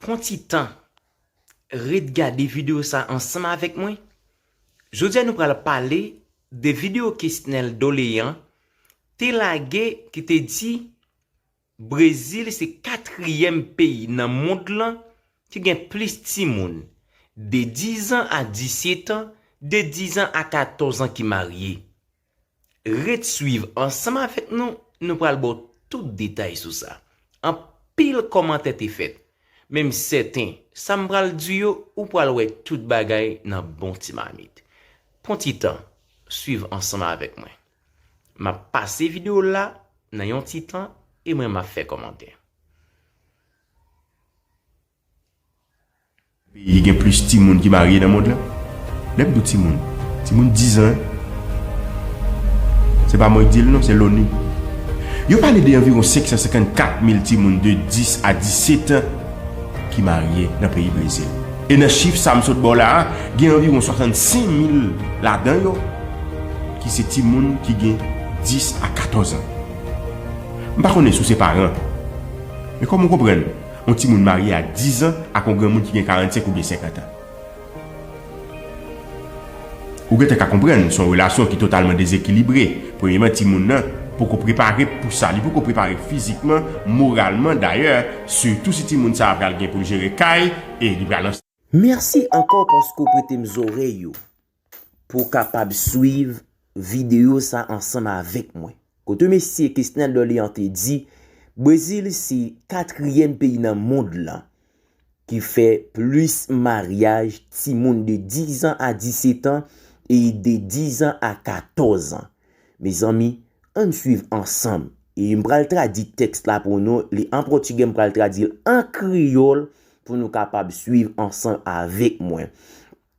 Pran ti tan, ret gade videyo sa ansanm avèk mwen. Jodi a nou pral pale de videyo Kesnel Dolean te lage ki te di Brezil se katriyèm peyi nan mond lan ki gen plis timoun de dizan a disyetan, de dizan a katòzan ki marye. Ret swiv ansanm avèk nou, nou pral ba w tout detay sou sa. Anpil kòmantè te fèt, men m sèten sa m pral di yo ou pral wè tout bagay nan bon ti mamit. Pran ti tan, swiv ansanm avèk mwen. M ap pase videyo l la nan yon ti tan e mwen m ap fè kòmantè. Peyi gen plis timoun ki marye nan mond lan? Lèm di w timoun, timoun 10 an. Se pa mwen ki di l non, se Loni. Yo pale de anviwon 554 mil timoun de 10 a 17 an ki marye nan peyi Brezil. E nan chif sa m sot ba w la a, gen anviwon 65 mil ladan yo ki se timoun ki gen 10 a 14 an. M pa konnen si w se paran, men kòman w konprann? Yon timoun marye a 10 an ak yon granmoun ki gen 45 oubyen 50 an. Ou gentan ka konprann se yon relasyon ki totalman dezekilibre. Premyeman, timoun nan poko prepare pou sa. Li poko prepare fizikman, moralman dayè, sitou si timoun sa a pral gen pou l jere kay e li pral. Mèsi ankò paske w prete m zorèy ou. Pou w kapab swiv videyo sa ansanm avèk mwen. Kote Mesye Kesnel Dorlean te di, Brezil se katriyèm peyi nan mond lan ki fè plis maryaj timoun de 10 an a 17 an e de 10 an a 14 an. Mezanmi, ann swiv ansanm. E m pral tradi tèks la pou nou, li an pòtigè m pral tradi l an kreyòl pou nou kapab swiv ansanm avèk mwen.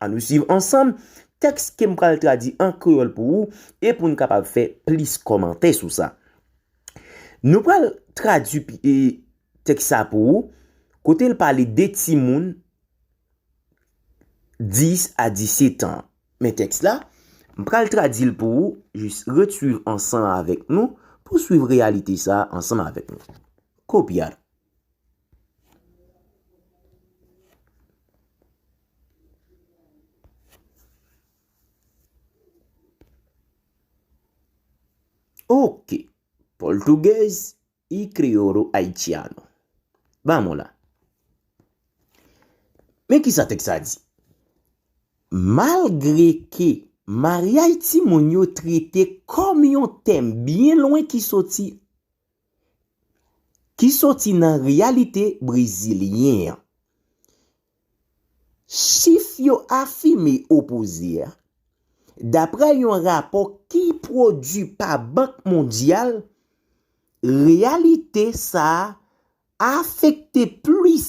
An nou suiv ansanm tèks ke m pral tradi an kreyòl pou ou e pou n kapab fè plis kòmantè sou sa. Nou pral tradi tèks sa pou ou kote l pale de timoun 10 a 17 an. Men tèks la, m pral tradi l pou ou, jis ret suiv ansanm avèk nou pou suiv reyalite sa ansanm avèk nou. Kopiar. Ok, Português e Crioulo Haitiano. Vamos lá. Men ki sa teks sa di? Malgre ke maryaj timoun yo trete kòm yon tèm byen lwen ki soti ki soti nan reyalite brezilyen an. Chif yo afime opoze a, dapre yon rapò ki pwodui pa Bank Mondyal, reyalite sa a afekte plis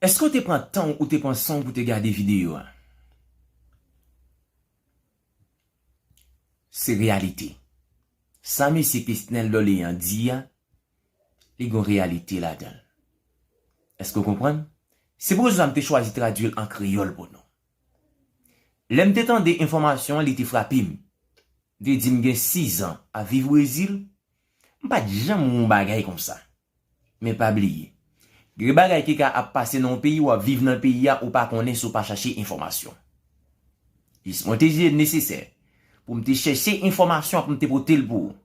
Eske ou te pran tanw ou te pran sanw pou te gade video a? Se reyalite. Sa mesye Kesnel Dorlean di a, li gon reyalite ladanl. Eske ou konprann? Se pou rezon sa m te chwazi tradwil an kreyòl pou nou. Lè m te tande enfòmasyon an li te frape m. M te di m gen 6 zan ap viv Brezil, m pat janm wè yon bagay konsa. Men pa bliye. Gen bagay ki ka ap pase nan yon peyi wap viv nan peyi a ou pa konnen si w pa chache enfòmasyon. Jis mwen te jije l nesesè pou m te chèche enfòmasyon pou m te pote l pou ou.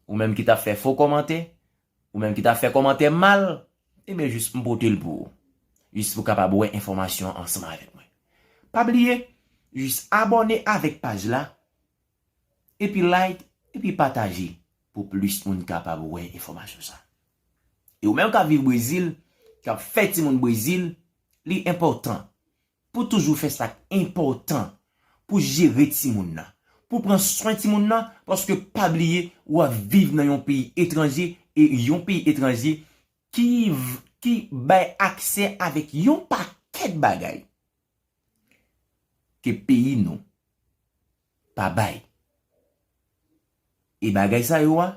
Ou menm ki tap fè fo kòmantè, ou menm ki tap fè kòmantè mal, enben jis m pote l pou ou. Jis pou w kapab wè enfòmasyon an ansanm avèk mwen. Pa bliye, jis abòne avèk paj la Epi like epi pataje pou plis moun kapab wè enfòmasyon sa. E ou menm kap viv Brezil, kap fè timoun Brezil, li enpòtan pou toujou fè sak enpòtan pou jere timoun nan, pou pran swen timoun nan paske pa bliye wap viv nan yon peyi etranje e yon peyi etranje ki bay aksè avèk yon pakèt bagay. ke peyi nou pa bay. E bagay sa yo a,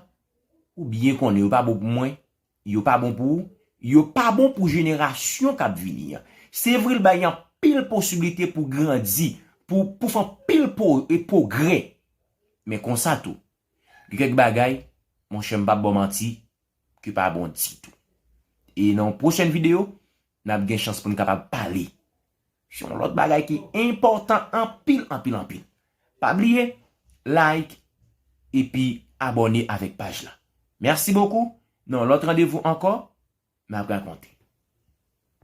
ou byen konnen yo pa bon pou mwen, yo pa bon pou ou, yo pa bon pou jenerasyon k ap vini an. Se vre l bay anpil posiblite pou grandi, pou fè anpil pwogrè, men konsa tou, gen kèk bagay, monchè m pa p ba w manti, ki pa bon ditou. E nan yon pwochèn videyo, N ap gen chans pou n kapab pale sou yon lòt bagay ki enpòtan anpil anpil anpil. Pa bliye like epi abòne avèk paj la. Mèsi bokou, nan yon lòt randevou ankò, n ap rakonte.